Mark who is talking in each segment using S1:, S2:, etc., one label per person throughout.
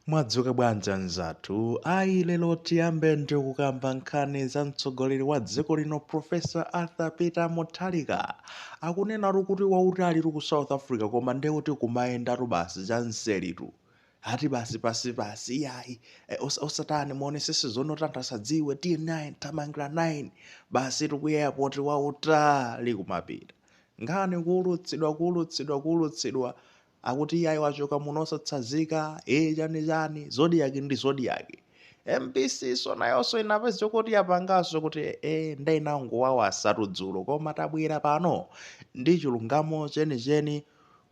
S1: Mwadzuka bwanji anzathu? Ayi lero tiyambe ndi kukamba nkhani za mtsogoleri wa dziko lino Professor Arthur Peter Mutharika. Akunenatu kuti wautalitu ku South Africa koma nde kuti kumayendatu basi chamseritu. Ati basi pansi pansi iyayi e, osa, osatani muonetsetse zoti anthu asadziwe tinyanyuke tinyamuke basi tikuyesa apo ati wautali kumapita. Nkhani kuulutsidwa kuulutsidwa kuulutsidwa akuti iyayi wachoka muno osatsazika ee chani chani zodiac ndi zodiac mbc nso nayonso inapeza zokuti yapanganso kuti ee nde inangowawaza tu dzulo koma tabwera pano ndi chilungamo chenicheni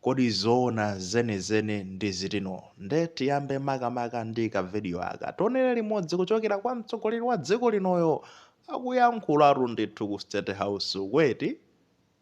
S1: kodi zoona zenizeni ndi zitino nde tiyambe makamaka ndi kavidiyo aka tionere limodzi kuchokera kwa mtsogoleri wa dziko linoyo akuyankhulatu ndithu ku state house uko eti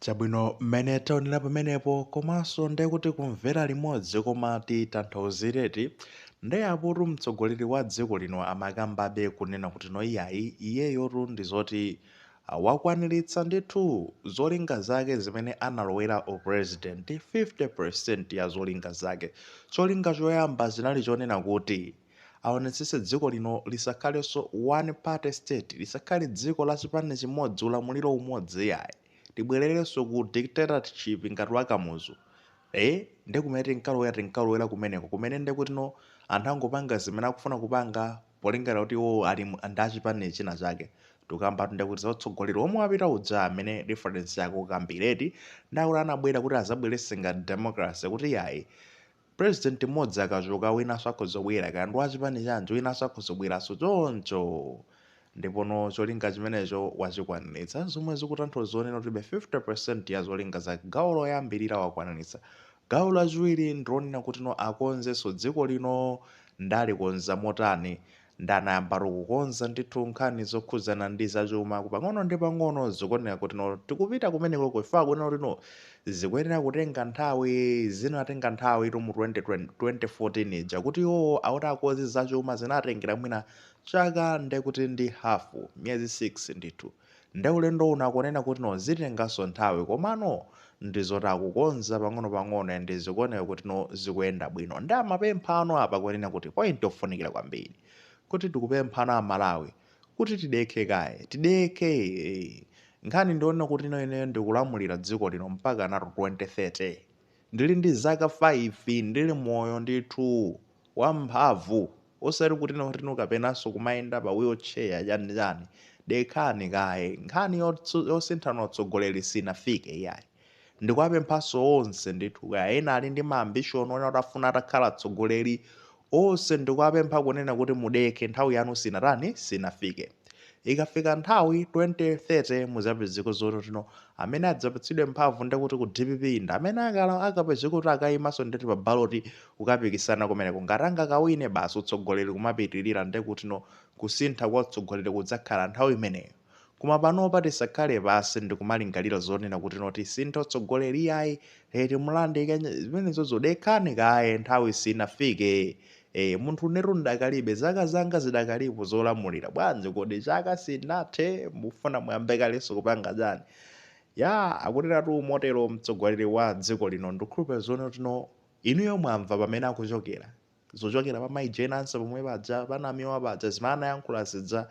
S1: Chabwino mmene taonera pamenepo komanso nde kuti kumvera limodzi koma titanthauzire eti nde apotu mtsogoleri wa dziko lino amakambabe kunena kutino iyayi iyeyotu ndi zoti wakwaniritsa ndithu zolinga zake zimene analowera u president 50% ya zolinga zake cholinga choyamba chinali chonena kuti aonetsetse dziko lino lisakhalenso one party state, lisakhale dziko la chipani chimodzi ulamuliro umodzi iyayi, tibwererenso ku dictatorship ngati wa Kamuzu, ee nde kumene tinkalowera tinkalowera kumeneko kumene ndekutino anthu angopanga zimene akufuna kupanga polingalira kuti iwowo ali ndi chipani china chake, tikukambatu ndekuti za utsogoleri womwe wapita uja amene difference yake ukukambira eti, nde akuti anabwera kuti azabweretse ngati democracy kuti iyayi President mmodzi akachoka winanso akhoza kubwera kaya ndi wa chipani chanji winanso akhoza kubweranso choncho ndipono cholinga chimenecho wachikwaniritsa zomwe zikutanthauza kunena kutibe 50% ya zolinga zake gawo loyambirira wakwaniritsa gawo lachiwiri ndi lonena kutino akonzenso dziko lino nde alikonza motani Ndanayambatu kukonza ndithu nkhani zokhudzana ndi za chumaku pang'ono ndi pang'ono zikuoneka kutino tikupita kumeneko kufika kuona kutino zikuyenera kutenga nthawi zinatenga nthawitu mu 2020 2014 ija kuti iwowo akuti akonze za chuma zinatengera mwina chaka ndekuti ndi hafu miyezi 6 ndithu Nde ulendo uno akunena kutino zitenganso nthawi komano ndi zoti akukonza pang'onopang'ono and zikuoneka kutino zikuyenda bwino. Nde amapemphano apa kunena kuti point yofunikira kwambiri kuti tikupemphano a Malawi kuti tidekhe kaye, tidekhe eeh. Nkhani ndi yonena kutino ineyo ndikulamulira dziko lino mpakanatu 2030. Ndili ndi zaka 5 ndili moyo ndithu, wamphamvu. osati kuti nawo tinu kapenanso kumayenda pa wheel chair chani chani dekhani kaye nkhani yotsu- yosinthana utsogoleri sinafike iyayi ndikuwapemphanso onse ndithu kaya ena ali ndi maambishoni onena kuti afuna atakhala atsogoleri onse ndikuwapempha kunena kuti mudekhe nthawi yanu sinatani sinafike Ikafika nthawi 2030 muzapezeko zoti tino amene adzapatsidwe mphamvu ndekuti ku dpp ndi amene akala akapezeka kuti akayimanso ndeti pa ballot kukapikisana kumeneko ngati angakawine basi utsogoleri kumapitilira ndekutino kusintha kwa utsogoleri kudzakhala nthawi imeneyo koma panopa tisakhale pansi ndikumalingalira zonena kutino tisinthe utsogoleri iyayi eti mulandu wanji zimenezozo dekhani kaye nthawi sinafike Eee munthu inetu ndakalibe zaka zanga zidakalipo zolamulira bwanji kodi chaka sinathe mufuna muyambe kalenso kupanga chani yaa akunenatu motelo mtsogoleri wa dziko lino ndikukhulupira zoonati inuyo mwamva pamene akuchokera zochokera pa mayi Jane Ansah pomwe paja pa namiwa paja zimene anayankhula zija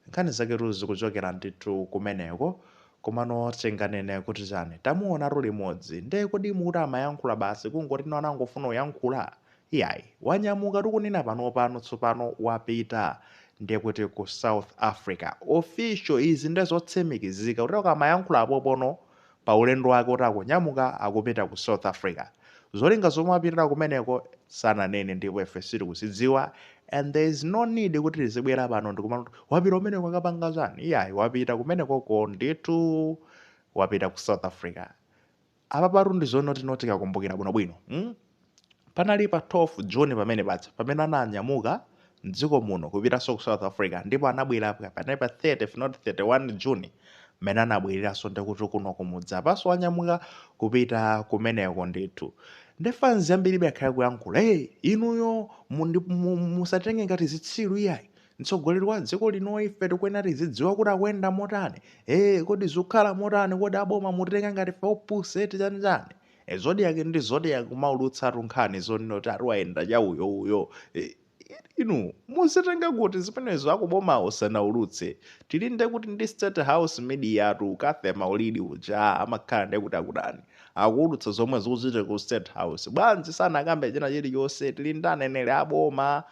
S1: nkhani zaketu zikuchokera ndithu kumeneko komano tinganene kuti chani tamuonatu limodzi nde kodi mukuti amayankhula basi kungotino anangofuna uyankhula Iyayi, wanyamuka tikunena panopano tsopano wapita ndiye kuti ku South Africa. Official, izi nde zotsimikizika kuti akamayankhula pompano pa ulendo wake oti akunyamuka akupita ku South Africa. Zolinga zomwe wapitira kumeneko sananene ndipo ife sitikuzidziwa and there is no need kuti tizibwera pano ndikumati kuti wapita kumeneko akapanga chani? Iyayi, wapita kumenekoko ndithu wapita ku South Africa. Apapatu ndi zonotinoti tikakumbukira bwinobwino, mm panali pa 12 June pamene paja pamene ananyamuka m'dziko muno kupitanso ku South Africa ndipo anabwera pa- panali pa 30 if not 31 June mmene anabwereranso ndi kuti kuno kumudzi apanso wanyamuka kupita kumeneko ndithu ndi fans ambiribe akhale kuyankhula hey inuyo mundi- mu- musatitenge ngati zitsiru iyayi Mtsogoleri wa dziko lino ife tikuyenera tizidziwa kuti akuyenda motani. Ee, kodi zikukhala motani? Kodi aboma mutitenga ngati ife opusa eti chani chani? E, Zodiak ndi Zodiak ikumaulutsatu nkhani zonena kuti ati wayenda cha uyo uyo. E, inu muzitenga kuti zimenezo akubomawo sanaulutse? Tili nde kuti ndi State House media tu, Cathy Maulidi uja amakhala nde kuti akutani? Akuulutsa zomwe zikuchitika ku State House. Bwanji sanakambe china chilichonse? Tili ndi aneneri a boma.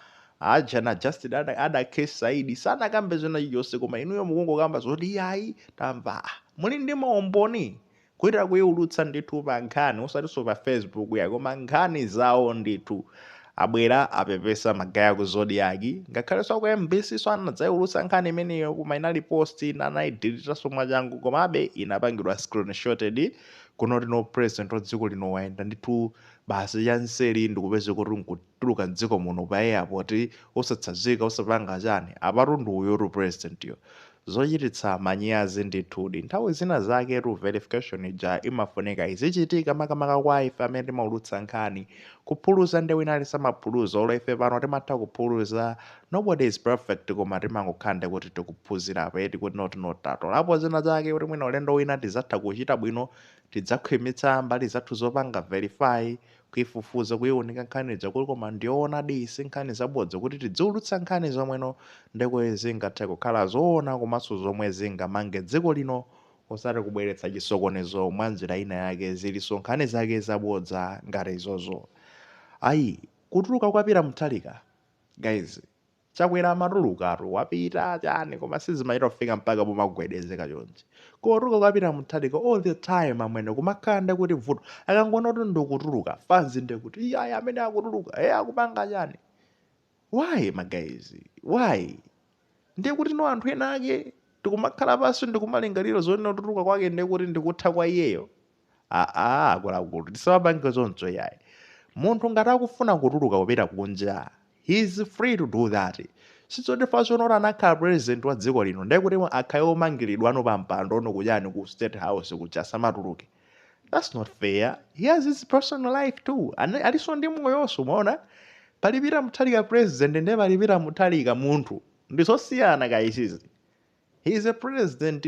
S1: Aja na Justin ada, ada Saidi sanakambe china chilichonse koma inuyo mukungokamba zoti yayi tamva ah, muli ndi maumboni kuita kuiulutsa ndithu pa nkhani osatinso pa Facebook yayi koma nkhani zawo ndithu abwera apepesa magaye ku Zodiak ngakhalenso ku MBC nso anadzaiulutsa nkhani imeneyo koma inali post ina anaidilitaso mwachangu komabe inapangidwa screenshotted kunotino president wa dziko lino wayenda ndithu basi chanseli ndikupeze kuti nku tuluka mdziko muno pa airport osatsazika osapanga chani apatu ndiye uyutu president yo zochititsa manyazi ndithudi nthawi zinazaketu verification ija imafunika izichitika makamaka kwa ife amene timaulutsa nkhani kuphuluza nde wina aliyense amaphuluza olo ife pano timatha kuphuluza nobody is perfect koma timangokhala nde kuti tikuphunzirapo eti kuti not not tatolapo zina zake kuti mwina ulendo wina tidzatha kuchita bwino tidzakhwimitsa mbali zathu zopanga verify kuifufuza kuiunika nkhani ija kuti koma ndiyoonadi iyi si nkhani zabodza kuti tidziulutsa nkhani zomweno ndekuti zingathe kukhala zoona komanso zomwe zingamange dziko lino osati kubweretsa chisokonezo mwa njira ina yake zilizonse nkhani zake zabodza ngati izozo ayi kutuluka kwa Peter Mutharika guys Chakwera amatulukatu wapita chani koma sizimachita kufika mpaka pomagwedezeka chonchi. Kutuluka kwa Peter Mutharika all the time amwene kumakhala ndekuti vuto akangoona kuti ndikutuluka fans ndekuti iyayi amene akutuluka eh akupanga chani. Why my guys? Why? Ndiye kuti ndi anthu ena ake tikumakhala pansi ndikumalingalira zoona kutuluka kwake ndiye kuti ndikutha kwa iyeyo. Aaa akuluakulu tisawapange zoncho yayi. Munthu ngati akufuna kutuluka kupita kunja he is free to do that. Sizoti ifeyono kuti anakhala president wa dziko lino ndiye kuti akhale womangiriridwano pa mpando no kuchani ku state house kuja asamatuluke. That's not fair. He has his personal life too. Ana- Alinso ndi moyonso mwaona. Pali Peter Mutharika president ndiye pali Peter Mutharika munthu. Ndizosiyana kachizi. he is a president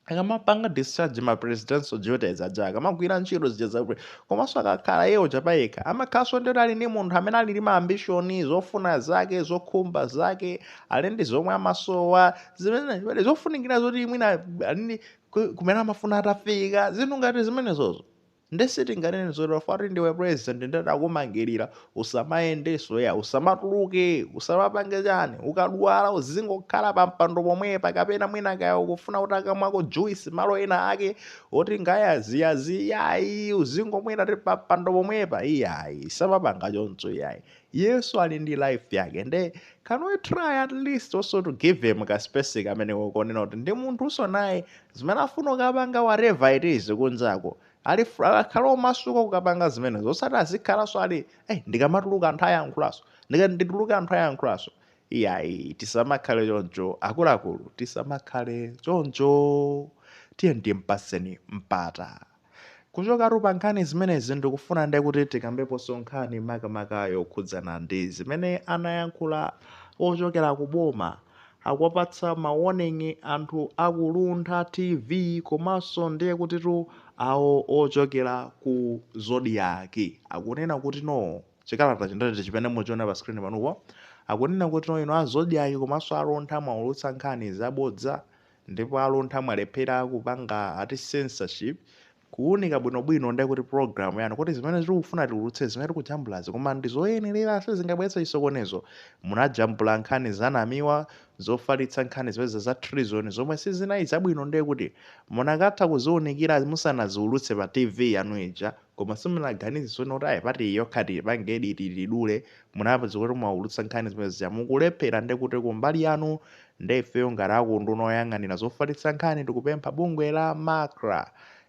S1: akamapanga discharge ma presidential duties aja akamagwira ntchito zija za pre- komanso akakhala iyeyo chapayekha amakhalanso ndiyoti ali ndi munthu amene ali ndi ma ambitions zofuna zake zokhumba zake ali ndi zomwe amasowa zimene zimene zofunikira zoti mwina ali ndi ku- kumene amafuna atafika zinthu ngati zimenezozo Nde sitinganene zoti poti ndiwe president nde takumangirira usamayendeso iyayi usamatuluke usamapange chani ukadwala uzingokhala pampando pomwepa kapena mwina kaya ukufuna ukamweko juice malo ena ake oti ngayaziyazi iyayi uzingomwera ti pampando pomwepa iyayi tisamapange choncho iyayi Iyeso ali ndi life yake nde can we try at least also to give him ka space kamene kokonena kuti ndi munthunso naye zimene afuna ukapanga whatever it is kunjako ali fr- akhala omasuka kukapanga zimenezo osati azikhalanso ali eh, ndikamatuluka anthu ayankhulaso ndikati ndituluke anthu ayankhulaso iyayi tisamakhale choncho akuluakulu tisamakhale choncho tiyeni timpaseni mpata Kuchokatu pa nkhani zimenezi ndikufuna nde kuti tikambeponso nkhani makamaka yokhudzana ndi zimene anayankhula ochokera ku boma akuwapatsa ma warning anthu a ku Luntha TV komanso ndiye kutitu awo ochokera ku Zodiak akunena kuti no chikalata chinadati chimene mukuchiona pa screen panupo akunena kuti no inu a Zodiak komanso a Luntha mwaulutsa nkhani zabodza Ndipo aluntha mwalephera kupanga ati censorship kuwunika bwino bwino nde kuti program yanu kuti zimene tikufuna tiwulutse zimene tikujambulazi koma ndizoyenera sizingabweretse chisokonezo munajambula nkhani za Namiwa zofalitsa nkhani zija za treason zomwe sizinali zabwino nde kuti munakatha kuziwunikira musanaziwulutse pa tv yanu ija koma simunaganize zoona kuti ayi part iyi yokha tiyipange edit tidule munapezeka kuti mwawulutsa nkhani zimene zija mukulephera nde kuti kumbali yanu Nde ifeyo ngati aku unduna oyang'anira zofalitsa nkhani tikupempha bungwe la macra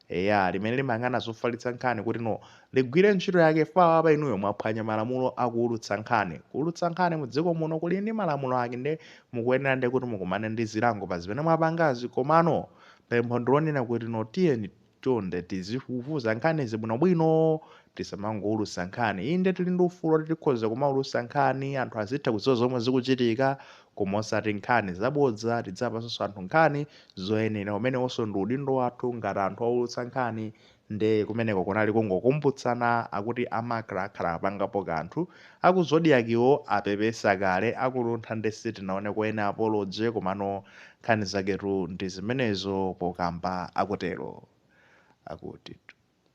S1: eya limene limayang'ana zofalitsa nkhani kuti no ligwire ntchito yake chifukwa apapa inuyo mwaphwanya malamulo a kuwulutsa nkhani. Kuwulutsa nkhani mu dziko muno kuli ndi malamulo ake nde mukuyenera nde kuti mukumane ndi zilango pa zimene mwapangazi komano pempho ndilonena kuti no tiyeni chonde tizifufuza nkhanizi bwinobwino tisamangoulusa nkhani inde tili ndi ufulu oti tikhoza kumaulusa nkhani anthu azitha kudziwa zomwe zikuchitika koma osati nkhani zabodza tiziwapasanso anthu nkhani zoyenera umenewonso ndi udindo wathu ngati anthu oulutsa nkhani nde kumeneko kunali kungokumbutsana akuti a macra akhala apangapo kanthu aku Zodiak-wo apepesa kale aku Luntha nde sitinaoneko any apology komano Nkhani zaketu ndi zimenezo pokamba akutero. Akutitu.